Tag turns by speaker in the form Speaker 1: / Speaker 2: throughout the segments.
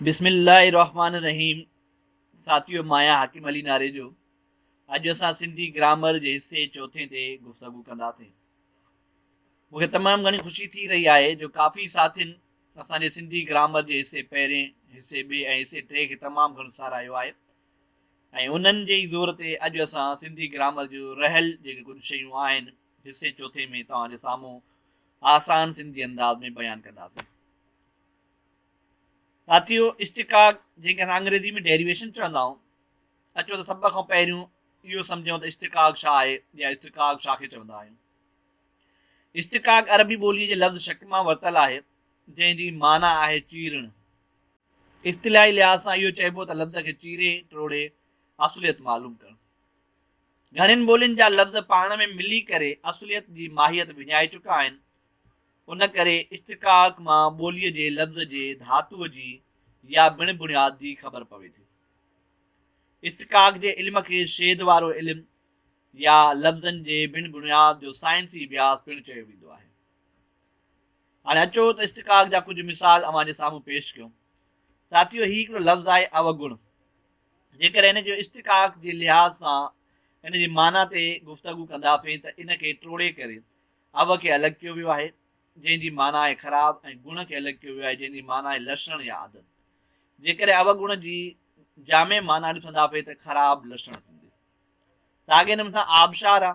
Speaker 1: بسم الله الرحمٰن الرحيم ساٿيو ماهيان حاڪم علي ناريجو اڄ اسان سنڌي گرامر جي حصي چوٿين تي گفتگو ڪنداسين مون کي تمام گهڻي خوشي ٿي رهي آهي جو ڪافي ساٿين اسان جي سنڌي گرامر جي حصي پهرين حصي ٻي ۽ حصي ٽي کي تمام گهڻو ساراهيو آهي ۽ انهن جي ئي زور تي اڄ اسان سنڌي گرامر جو رهيل جيڪي ڪجهه شيون آهن حصي چوٿين ۾ توهان جي سامهون آسان سنڌي انداز ۾ بيان ڪنداسين ساٿيو! اشتقاق جنهن کي اسان انگريزي ۾ Derivation چوندا آهيون، اچو ته سڀ کان پهريون اهو سمجهون ته اشتقاق ڇا آهي يا اشتقاق ڇا کي چوندا آهيون. اشتقاق عربي ٻوليء جي لفظ شق مان ورتل آهي، جنهن جي معنيٰ آهي چيرڻ. اصطلاحي لحاظ سان اهو چئبو ته لفظ کي چيري ٽوڙي اصليت معلوم ڪرڻ. گهڻين ٻولين جا لفظ پاڻ ۾ ملي ڪري اصليت جي ماهيت وڃائي چڪا آهن. ان ڪري اشتقاق مان ٻوليء جي لفظ جي ڌاتوء جي يا بڻ بڻياد جي خبر پوي ٿي. اشتقاق جي علم کي شيد وارو علم يا لفظن جي بڻ بڻياد جو سائنسي اڀياس پڻ چيو ويندو آهي. هاڻي اچو ته اشتقاق جا ڪجهه مثال اوهان جي سامهون پيش ڪيون. ساٿيو هي هڪڙو لفظ آهي اوگڻ. جيڪڏهن ان جو اشتقاق جي لحاظ سان ان جي معنيٰ تي گفتگو ڪنداسين ته ان کي ٽوڙي ڪري عب کي الڳ ڪيو ويو آهي، جنهن جي معنيٰ آهي خراب ۽ گڻ کي الڳ ڪيو ويو آهي، جنهن جي معنيٰ آهي لسڻ يا عادت. جيڪڏهن عب گڻ جي جامع معنيٰ ڏسنداسين ته خراب لسڻ ٿيندي. ساڳي نموني سان آبشار آ.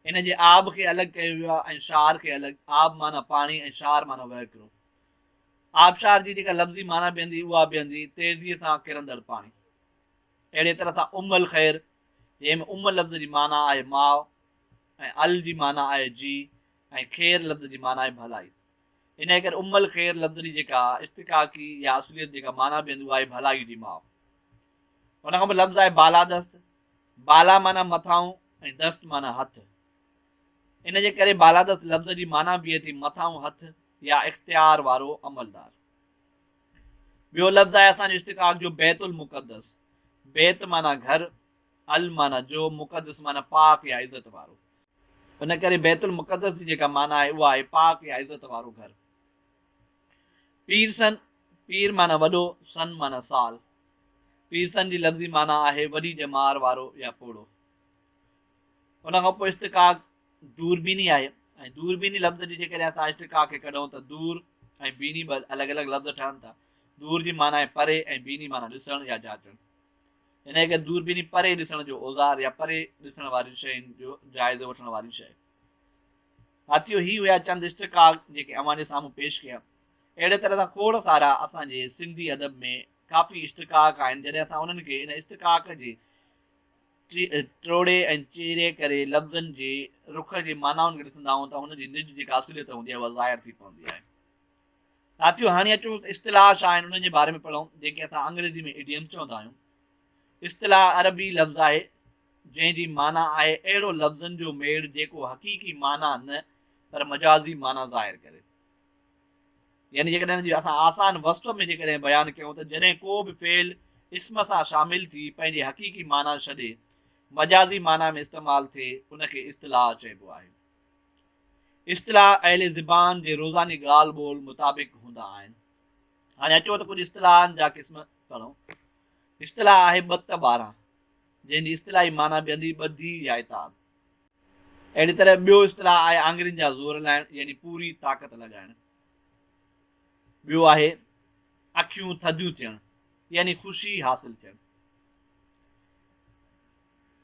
Speaker 1: ان جي آب کي الڳ ڪيو ويو آ ۽ شار کي الڳ. آب معنيٰ پاڻي ۽ شار معنيٰ وهڪرو. آبشار جي جيڪا لفظي معنيٰ بيهندي اها بيهندي تيزيء سان ڪرندڙ پاڻي. اهڙيء طرح سان ام الخير، جنهن ۾ ام لفظ جي معنيٰ آهي ماء، ۽ ال جي معنيٰ آهي جي ۽ خير لفظ جي معنيٰ آهي ڀلائي. انهيء ڪري ام الخير لفظ جي جيڪا اشتقاقي يا اصليت جيڪا معنيٰ بيهندي اها آهي ڀلائيء جي ماء. ان کان پوء لفظ آهي بالادست، بالا معنيٰ مٿانهون ۽ دست معنيٰ هٿ. ان جي ڪري بالادست لفظ جي معنيٰ بيهي ٿي مٿانهون هٿ يا اختيار وارو عملدار. ٻيو لفظ آهي اسان جي اشتقاق جو بيت المقدس، بيت معنيٰ گهر ال معنيٰ جو مقدس معنيٰ پاڪ يا عزت وارو. ان ڪري بيت المقدس جي جيڪا معنيٰ آهي اها آهي پاڪ يا عزت وارو گهر. پيرسن، پير معنيٰ وڏو، سن معنيٰ سال. پيرسن جي لفظي معنيٰ آهي وڏي ڄمار وارو يا پوڙهو. ان کان پوء اشتقاق دوربيني آهي ۽ دوربيني لفظ جي جيڪڏهن اسان اشتقاق کي ڪڍون ته دور ۽ بيني ٻه الڳ الڳ لفظ ٺهن ٿا. دور جي معنيٰ آهي پري ۽ بيني معنيٰ ڏسڻ يا جاچڻ. انهيء کي دوربيني پري ڏسڻ جو اوزار يا پري ڏسڻ وارين شين جو جائزو وٺڻ واري شيء. ساٿيو هي هيا چند اشتقاق جيڪي اوهان جي سامهون پيش ڪيا. اهڙي طرح سان کوڙ سارا اسان جي سنڌي ادب ۾ ڪافي اشتقاق آهن جڏهن اسان انهن کي ان اشتقاق جي ٽوڙي ۽ چيري ڪري لفظن جي رخ جي معنائن کي ڏسنداهون ته هن جي نج جيڪا اصليت هوندي آهي اها ظاهر ٿي پوندي آهي. ساٿيو هاڻي اچون ته اصطلاح ڇا آهن انهن جي باري ۾ پڙهون جنهن کي اسان انگريزي ۾ Idiom چوندا آهيون. اصطلاح عربي لفظ آهي جنهن جي معنيٰ آهي اهڙو لفظن جو ميڙ جيڪو حقيقي معنيٰ نه پر مجازي معنيٰ ظاهر ڪري. يعني جيڪڏهن ان جي اسان آسان وصف ۾ جيڪڏهن بيان ڪيون ته جڏهن ڪو به فعل اسم سان شامل ٿي پنهنجي حقيقي معنيٰ ڇڏي مجازي معنيٰ ۾ استعمال ٿئي ان کي اصطلاح چئبو آهي. اصطلاح اهل زبان جي روزاني ڳالهه ٻولهه مطابق هوندا آهن. هاڻي اچو ته ڪجهه اصطلاحن جا قسم پڙهون. اصطلاح آهي ٻت ٻارهن، جنهن جي اصطلاحي معنيٰ بيندي، ٻڌي يا اتحاد. اهڙي طرح ٻيو اصطلاح آهي آڱرين جا زور لائڻ يعني پوري طاقت لڳائڻ. ٻيو آهي اکيون ٿڌيون ٿيڻ يعني خوشي حاصل ٿيڻ.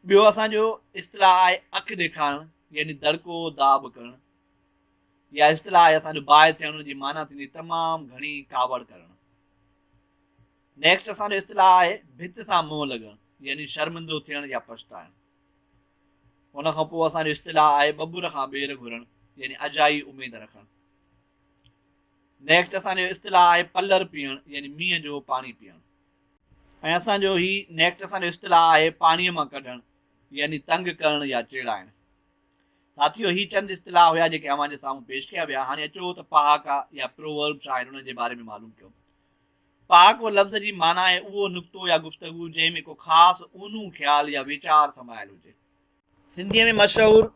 Speaker 1: ٻيو اسان جو اصطلاح آهي اک ڏيکارڻ يعني دڙڪو داٻ ڪرڻ. اها اصطلاح آهي اسان جو باهه ٿيڻ ان جي معنيٰ ٿيندي تمام گهڻي ڪاوڙ ڪرڻ. نيڪسٽ اسان جو اصطلاح آهي ڀت سان منهن لڳڻ يعني شرمندو ٿيڻ يا پڇتائڻ. ان کان پوء اسان جو اصطلاح آهي ٻٻر کان ٻير گهرڻ يعني اجائي اميد رکڻ. نيڪسٽ اسان جو اصطلاح آهي پلر پيئڻ يعني مينهن جو پاڻي پيئڻ. ۽ اسان جو هي نيڪٽ اسان جو اصطلاح آهي پاڻيء مان ڪڍڻ يعني تنگ ڪرڻ يا چيڙائڻ. ساٿيو هي چند اصطلاح هيا جيڪي اوهان جي سامهون پيش ڪيا ويا هاڻي اچو ته پهاڪا يا Proverb ڇا آهن انهن جي باري ۾ معلوم ڪيون. پهاڪو لفظ جي معنيٰ آهي اهو نڪتو يا گفتگو جنهن ۾ ڪو خاص اونهون خيال يا ويچار سمايل هجي. سنڌيء ۾ مشهور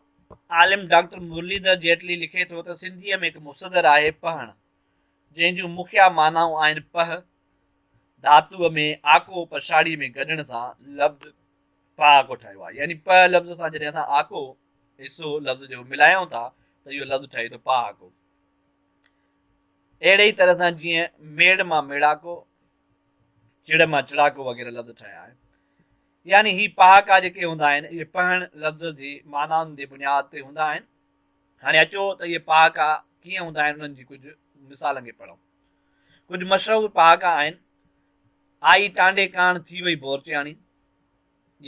Speaker 1: عالم ڊاڪٽر مرليڌر جيٽلي لکي ٿو ته سنڌيء ۾ هڪ مصدر آهي پهڻ جنهن جون مکيه معنائون آهن پهه، ڌاتوء ۾ آڪو پڇاڙيء ۾ گڏڻ سان لفظ پاڪو ٺهيو آهي. يعني پ لفظ سان جڏهن اسان آڪو ۽ سو لفظ جو ملايون ٿا ته اهو لفظ ٺهي ٿو پاڪو. اهڙي ئي طرح سان جيئن ميڙ مان ميڙاڪو، چڙ مان چڙاڪو وغيره لفظ ٺهيا آهن. يعني هي پهاڪا جيڪي هوندا آهن اهي پهڻ لفظ جي معنائن جي بنياد تي هوندا آهن. هاڻي اچو ته اهي پهاڪا ڪيئن هوندا آهن انهن جي ڪجهه مثالن کي پڙهون. ڪجهه مشهور پهاڪا آهن، آئي ٽانڊي ڪاڻ ٿي وئي بورچياڻي،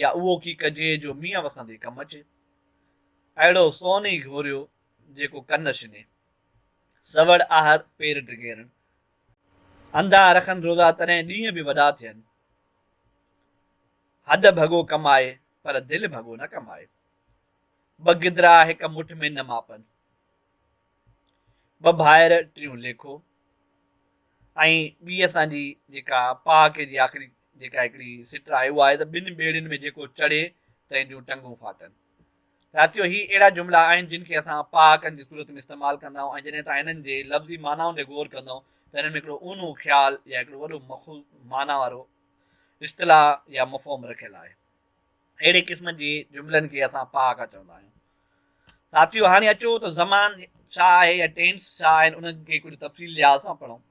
Speaker 1: يا اهو ڪي ڪجي جو مينهن وسندي ڪم اچي، اهڙو سون ئي گهوريو جيڪو ڪن شني، سوڙ آهر پير ڊگهيرڻ. انڌا رکن روزا تڏهن ڏينهن به وڏا ٿين، هڏ ڀڳو ڪمائي پر دل ڀڳو نه ڪمائي، ٻه گدرا هڪ مٺ ۾ نه ماپن. ٻه ڀائر ٽيون ليکو ۽ ٻي اسان جي جيڪا پهاڪي جي آخري جيڪا هڪڙي سٽ آهي اها آهي ته ٻن ٻيڙين ۾ جيڪو چڙهي تنهن جون ٽنگون ڦاٽن. ساٿيو هي اهڙا جملا آهن جن کي اسان پهاڪن جي صورت ۾ استعمال ڪندا آهيون ۽ جڏهن اسان هنن جي لفظي معنائن تي غور ڪندا آهيون ته هنن ۾ هڪڙو اونهو خيال يا هڪڙو وڏو مخوض معنيٰ وارو اصطلاح يا مفهوم رکيل آهي. اهڙي قسم جي جملن کي اسان پهاڪا چوندا آهيون. ساٿيو هاڻي اچو ته زمان ڇا آهي يا ٽينس ڇا آهن انهن کي ڪجهه تفصيل لحاظ سان پڙهون.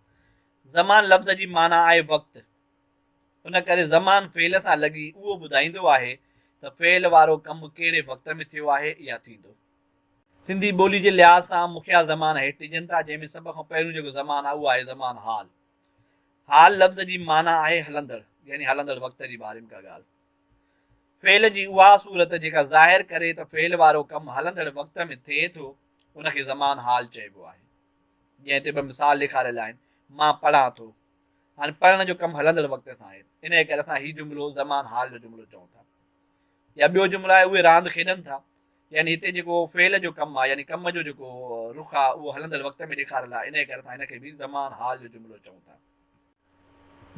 Speaker 1: زمان لفظ جي معنيٰ آهي وقت. ان ڪري زمان فعل سان لڳي اهو ٻڌائيندو آهي ته فعل وارو ڪم ڪهڙي وقت ۾ ٿيو آهي يا ٿيندو. سنڌي ٻولي جي لحاظ سان مکيه زمان هيٺ ڏجن ٿا جنهن ۾ سڀ کان پهريون جيڪو زمان آهي اهو آهي زمان حال. حال لفظ جي معنيٰ آهي هلندڙ يعني هلندڙ وقت جي باري ۾ ڪا ڳالهه. فعل جي اها صورت جيڪا ظاهر ڪري ته فعل وارو ڪم هلندڙ وقت ۾ ٿئي ٿو، ان کي زمان حال چئبو آهي. جنهن تي ٻه مثال ڏيکاريل آهن، مان پڙهان ٿو. هاڻي پڙهڻ جو ڪم هلندڙ وقت سان آهي، انهيء ڪري اسان هي جملو زمان حال جو جملو چئون ٿا. يا ٻيو جملو آهي، اهي راند کيڏن ٿا. يعني هتي جيڪو فعل جو ڪم آهي، يعني ڪم جو جيڪو رخ آهي، اهو هلندڙ وقت ۾ ڏيکاريل آهي، انهيء ڪري اسان هن کي به زمان حال جو جملو چئون ٿا.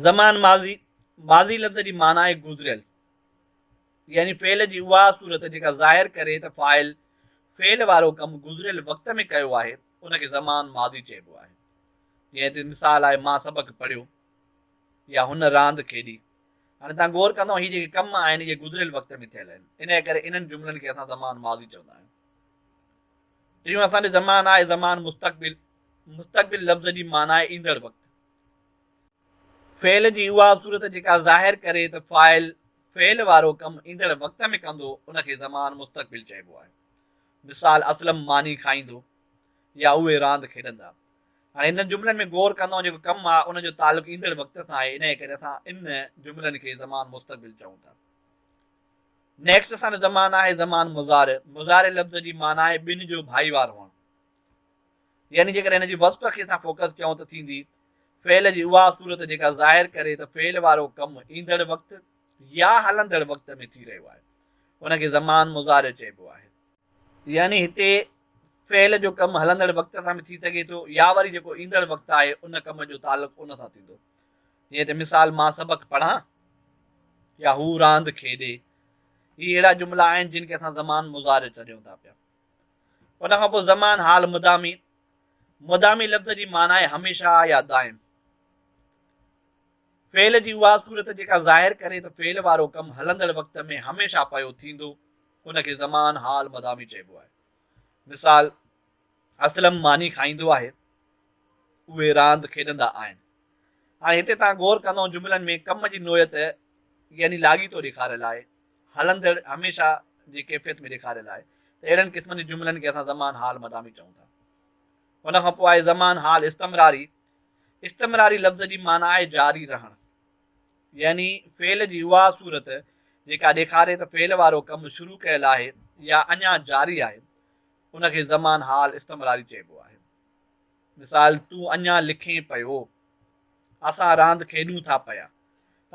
Speaker 1: زمان ماضي، ماضي لفظ جي معنيٰ آهي گذريل، يعني فعل جي اها صورت جيڪا ظاهر ڪري ته فاعل فعل وارو ڪم گذريل وقت ۾ ڪيو آهي، ان کي زمان ماضي چئبو آهي. جيئن هتي مثال آهي مان سبق پڙهيو يا هن راند کيڏي. هاڻي توهان غور ڪندو هي جيڪي ڪم آهن اهي گذريل وقت ۾ ٿيل آهن، انهيء ڪري انهن جملن کي اسان زمان ماضي چوندا آهيون. ٽيون اسان ڏي زمان آهي زمان مستقبل، مستقبل لفظ جي معنيٰ آهي ايندڙ وقت. فعل جي اها صورت جيڪا ظاهر ڪري ته فاعل فعل وارو ڪم ايندڙ وقت ۾ ڪندو ان کي زمان مستقبل چئبو آهي. مثال، اسلم ماني کائيندو يا اهي راند کيڏندا. هاڻي انهن جملن ۾ غور ڪندئون جيڪو ڪم آهي ان جو تعلق ايندڙ وقت سان آهي انهيء ڪري اسان ان جملن کي زمان مستقبل چئون ٿا. نيڪسٽ سان زمان آهي زمان مضارع. مضارع لفظ جي معنيٰ آهي ٻن جو ڀائيوار هئڻ. يعني جيڪڏهن هن جي وصف کي اسان فوڪس ڪيون ته ٿيندي فعل جي اها صورت جيڪا ظاهر ڪري ته فعل وارو ڪم ايندڙ وقت يا هلندڙ وقت ۾ ٿي رهيو آهي ان کي زمان مضارع چئبو آهي. يعني هتي فعل جو ڪم هلندڙ وقت سان به ٿي سگهي ٿو يا وري جيڪو ايندڙ وقت آهي ان ڪم جو تعلق ان سان ٿيندو جيئن هتي مثال مان سبق پڙهان يا هو راند کيڏي هي اهڙا جملا آهن جن کي اسان زمان مضارع چڏيون ٿا پيا. ان کان پوء زمان حال مدامي، مدامي لفظ جي معنيٰ آهي هميشه يا دائم. فعل جي اها صورت جيڪا ظاهر ڪري ته فعل وارو ڪم هلندڙ وقت ۾ هميشه پيو ٿيندو، ان کي زمان حال مدامي چئبو آهي. مثال، اسلم ماني کائيندو آهي، اهي راند کيڏندا آهن. هاڻي هتي توهان غور ڪندؤ جملن ۾ ڪم جي نوعيت يعني لاڳيتو ڏيکاريل آهي، هلندڙ هميشه جي ڪيفيت ۾ ڏيکاريل آهي ته اهڙن قسمن جي جملن کي اسان زمان حال مدامي چئون ٿا. ان کان پوء آهي زمان حال استمراري. استمراري لفظ جي معنيٰ آهي جاري رهڻ. يعني فعل جي اها صورت جيڪا ڏيکاري ته فعل وارو ڪم شروع ڪيل آهي يا اڃا جاري آهي، ان کي زمان حال استمراري چئبو آهي. مثال، تون اڃا لکين پيو. اسان راند کيڏون ٿا پيا.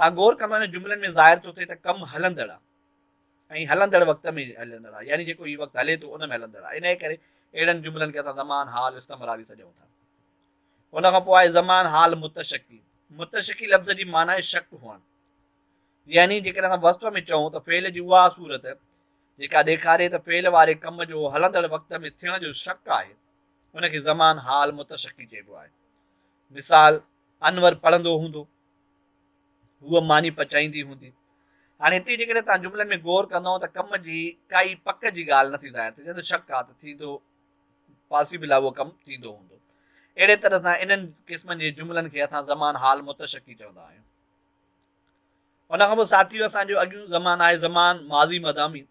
Speaker 1: ٽاگور ڪم ۾ جملن ۾ ظاهر ٿو ٿئي ته ڪم هلندڙ آ ۽ هلندڙ وقت ۾ هلندڙ آ يعني جيڪو هي وقت هلي ٿو ان ۾ هلندڙ آ انهيء ڪري اهڙن جملن کي اسان زمان حال استمراري سڏيون ٿا. ان کان پوء آهي زمان حال متشڪي. متشڪي لفظ جي معنيٰ آهي شڪ هئڻ يعني جيڪڏهن اسان وصف ۾ چئون ته فعل جي اها صورت جيڪا ڏيکاري ته فعل واري ڪم جو هلندڙ وقت ۾ ٿيڻ جو شڪ آهي ان کي زمان حال متشڪي چئبو آهي. مثال، انور پڙهندو هوندو، هوء ماني پچائيندي هوندي. هاڻي هتي جيڪڏهن توهان جملن ۾ غور ڪندؤ ته ڪم جي ڪائي پڪ جي ڳالهه نٿي ظاهر ٿئي، جڏهن ته شڪ آ ته ٿيندو Possible آ اهو ڪم ٿيندو هوندو. اهڙي طرح سان انهن قسمن جي جملن کي اسان زمان حال متشڪي چوندا آهيون. ان کان پوء ساٿيو اسان جو اڳيون زمان آهي زمان ماضي مدامي.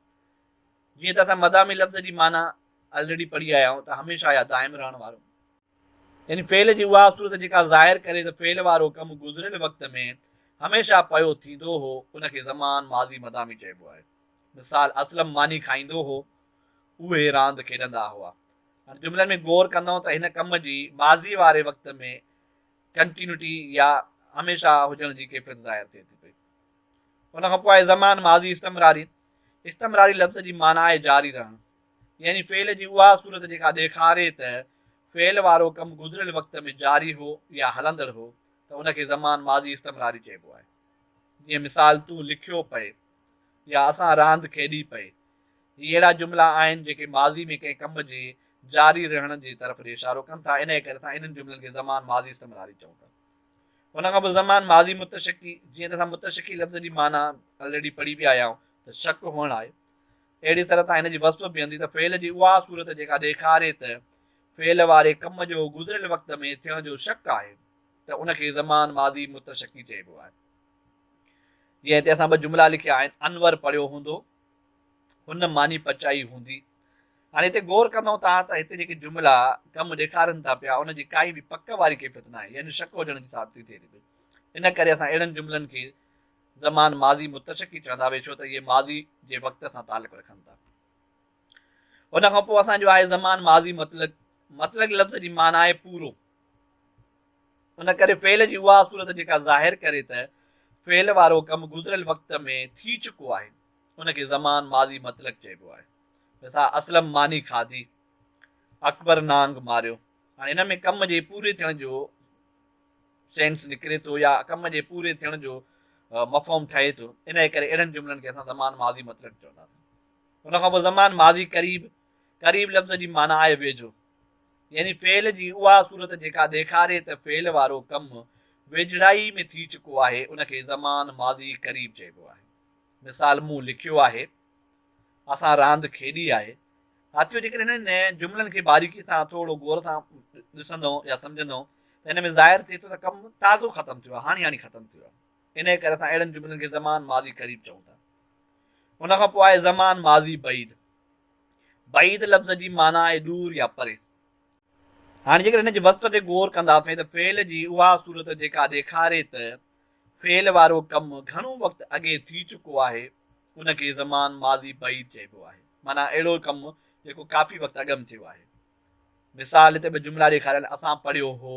Speaker 1: جيئن ته اسان مدامي لفظ جي معنيٰ Already پڙهي آيا آهيون ته هميشه يا دائم رهڻ وارو. يعني فعل جي اها صورت جيڪا ظاهر ڪري ته فعل وارو ڪم گذريل وقت ۾ هميشه پيو ٿيندو هو ان کي زمان ماضي مدامي چئبو آهي. مثال، اسلم ماني کائيندو هو، اهي راند کيڏندا هئا. هن جملن ۾ غور ڪندئون ته هن ڪم جي ماضي واري وقت ۾ ڪنٽينيوٽي يا هميشه هجڻ جي ڪيفيت ظاهر ٿئي ٿي پئي. ان کان پوء آهي زمان ماضي استمراري. استمراري لفظ جي معنيٰ آهي جاري رهڻ. يعني فعل جي اها صورت جيڪا ڏيکاري ته فعل وارو ڪم گذريل وقت ۾ جاري هو يا هلندڙ هو ته ان کي زمان ماضي استمراري چئبو آهي. جيئن مثال تون لکيو پئي يا اسان راند کيڏي پئي. هي اهڙا جملا آهن جيڪي ماضي ۾ ڪنهن ڪم جي جاري رهڻ جي طرف ڏي اشارو ڪن ٿا انهيء ڪري اسان انهن جملن کي زمان ماضي استمراري چئون ٿا. ان کان پوء زمان ماضي متشڪي جيئن ته اسان متشڪي لفظ جي معنيٰ الريڊي پڙهي ويا آهيائون ته شڪ هئڻ آهي. اهڙيء طرح تان هن جي وصف بيهندي ته فعل جي اها صورت جيڪا ڏيکاري ته فعل واري ڪم جو گذريل وقت ۾ ٿيڻ جو شڪ آهي ته ان کي زمان ماضي متشڪي چئبو آهي. جيئن هتي اسان ٻه جملا لکيا آهن، انور پڙهيو هوندو، هن ماني پچائي هوندي. هاڻي هتي غور ڪندئون ٿا ته هتي جيڪي جملا ڪم ڏيکارين ٿا پيا ان جي ڪائي به پڪ واري ڪيفيت ناهي يعني شڪ هجڻ جي ثابتي ٿئي ٿي پئي. ان ڪري اسان اهڙن جملن کي زمان ماضي متشڪي چوندا اهي ڇو ته اهي ماضي جي وقت سان تعلق رکن ٿا ان کان پوء اسان جو آهي زمان ماضي مطلق مطلق لفظ جي معنيٰ آهي پورو ان ڪري فعل جي اها صورت جيڪا ظاهر ڪري ته فعل وارو ڪم گذريل وقت ۾ ٿي چڪو آهي ان کي زمان ماضي مطلق چئبو آهي مثال اسلم ماني کاڌي اڪبر نانگ ماريو هاڻي ان ۾ ڪم جي پوري ٿيڻ جو سينس نڪري ٿو يا ڪم جي پوري ٿيڻ جو مفهوم ٺهي ٿو، انهيء ڪري اهڙن جملن کي اسان زمان ماضي مطلق چونداسين. ان کان پوء زمان ماضي قريب، قريب لفظ جي معنيٰ آهي ويجهو، يعني فعل جي اها صورت جيڪا ڏيکاري ته فعل وارو ڪم ويجهڙائي ۾ ٿي چڪو آهي، ان کي زمان ماضي قريب چئبو آهي. مثال مون لکيو آهي، اسان راند کيڏي آهي. ساٿيو جيڪڏهن هنن جملن کي باريڪي سان ٿورڙو غور سان ڏسندئون يا سمجهندئون ته ان ۾ ظاهر ٿئي ٿو ته ڪم تازو ختم ٿيو آهي، هاڻي هاڻي ختم ٿيو آهي. انهيء ڪري اسان اهڙن جملن کي زمان ماضي قريب چئون ٿا. ان کان پوء آهي زمان ماضي بعيد. بعيد لفظ جي معنيٰ آهي دور يا پري. هاڻي جيڪڏهن هن جي وصف تي غور ڪنداسين ته فعل جي اها صورت جيڪا ڏيکاري ته فعل وارو ڪم گهڻو وقت اڳي ٿي چڪو آهي، ان کي زمان ماضي بعيد چئبو آهي، معنيٰ اهڙو ڪم جيڪو ڪافي وقت اڳ م ٿيو آهي. مثال، هتي ٻه جملا ڏيکاريل، اسان پڙهيو هو،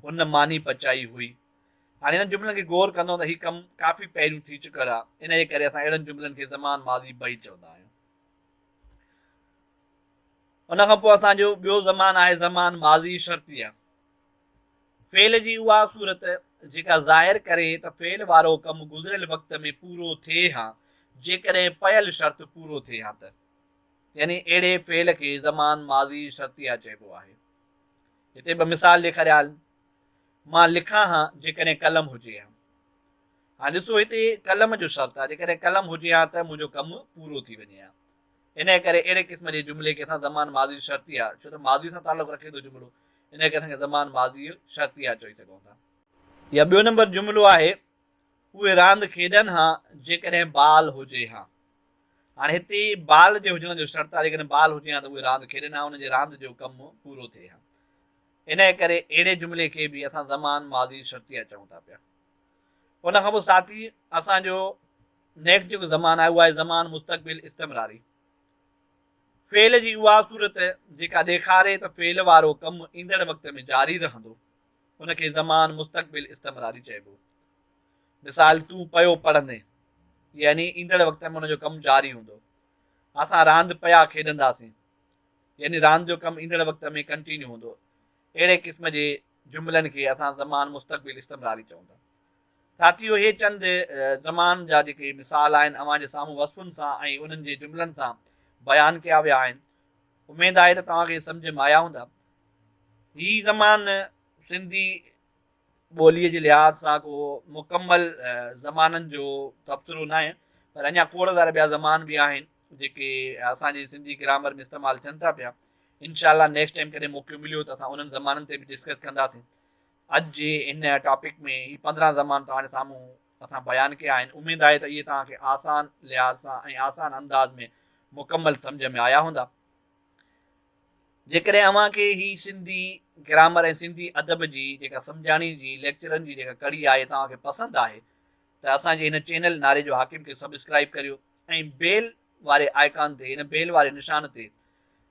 Speaker 1: هن ماني پچائي هئي. هاڻي انهن جملن کي غور ڪندؤ ته هي ڪم ڪافي پهريون ٿي چڪل آ، انهيء ڪري اسان اهڙن جملن کي زمان ماضي بعيد چوندا آهيون. ان کان پوء اسان جو ٻيو زمان آهي زمان ماضي شرطيه. فعل جي اها صورت جيڪا ظاهر ڪري ته فعل وارو ڪم گذريل وقت ۾ پورو ٿئي ها جيڪڏهن پيل شرط پورو ٿئي ها ته يعني اهڙي فعل کي زمان ماضي شرطيه چئبو آهي. هتي ٻه مثال ڏيکاريال مان لکان ها جيڪڏهن قلم هجي ها. هاڻ ڏسو هتي قلم جو شرط آهي جيڪڏهن قلم هجي ها ته منهنجو ڪم پورو ٿي وڃي ها انهيء ڪري اهڙي قسم جي جملي کي اسان زمان ماضي شرطيه ڇو ته ماضي سان تعلق رکي ٿو جملو انهيء ڪري کي زمان ماضيء شرطيه چئي سگهون ٿا. يا ٻيو نمبر جملو آهي، اهي راند کيڏن ها جيڪڏهن بال هجي ها. هاڻي هتي بال جي هجڻ جو شرط آهي، جيڪڏهن بال هجي ها ته اهي راند کيڏن ها، انهن جي راند جو ڪم پورو ٿئي ها. انهيء ڪري اهڙي جملي کي به اسان زمان ماضيء شرطيه چئون ٿا پيا. ان کان پوء ساٿي اسان جو نيڪسٽ جيڪو زمان آهي اهو آهي زمان مستقبل استمراري. فعل جي اها صورت جيڪا ڏيکاري ته فعل وارو ڪم ايندڙ وقت ۾ جاري رهندو، ان کي زمان مستقبل استمراري چئبو. مثال، تون پيو پڙهندين، يعني ايندڙ وقت ۾ ان جو ڪم جاري هوندو. اسان راند پيا کيڏنداسين، يعني راند جو ڪم ايندڙ وقت ۾ ڪنٽينيو هوندو. اهڙي قسم جي جملن کي اسان زمان مستقبل استمراري چئون ٿا. ساٿيو هي چند زمان جا جيڪي مثال آهن اوهان جي سامهون وصفن سان ۽ انهن جي جملن سان بيان ڪيا ويا آهن اميد آهي ته توهان کي سمجهه م آيا هوندا هي زمان سنڌي ٻولي جي لحاظ سان ڪو مڪمل زمانن جو تبصرو ناهي پر اڃا کوڙ سارا ٻيا زمان به آهن جيڪي اسان جي سنڌي گرامر م استعمال ٿين ٿا پيا انشاء الله نيڪسٽ ٽائيم ڪڏهن موقعو مليو ته اسان انهن زمانن تي به ڊسڪس ڪنداسين اڄ جي هن ٽاپڪ ۾ هي پندرهن زمان توهان سامهون اسان بيان ڪيا آهن اميد آهي ته اهي توهان کي آسان لحاظ سان ۽ آسان انداز ۾ مڪمل سمجهه ۾ آيا هوندا. جيڪڏهن اوهان کي هي سنڌي گرامر ۽ سنڌي ادب جي جيڪا سمجهاڻي جي ليڪچرن جي جيڪا ڪڙي آهي توهان کي پسند آهي ته اسان جي هن چينل نعري جو حاڪم کي سبسڪرائب ڪريو ۽ بيل واري آئڪان تي ان بيل واري نشان تي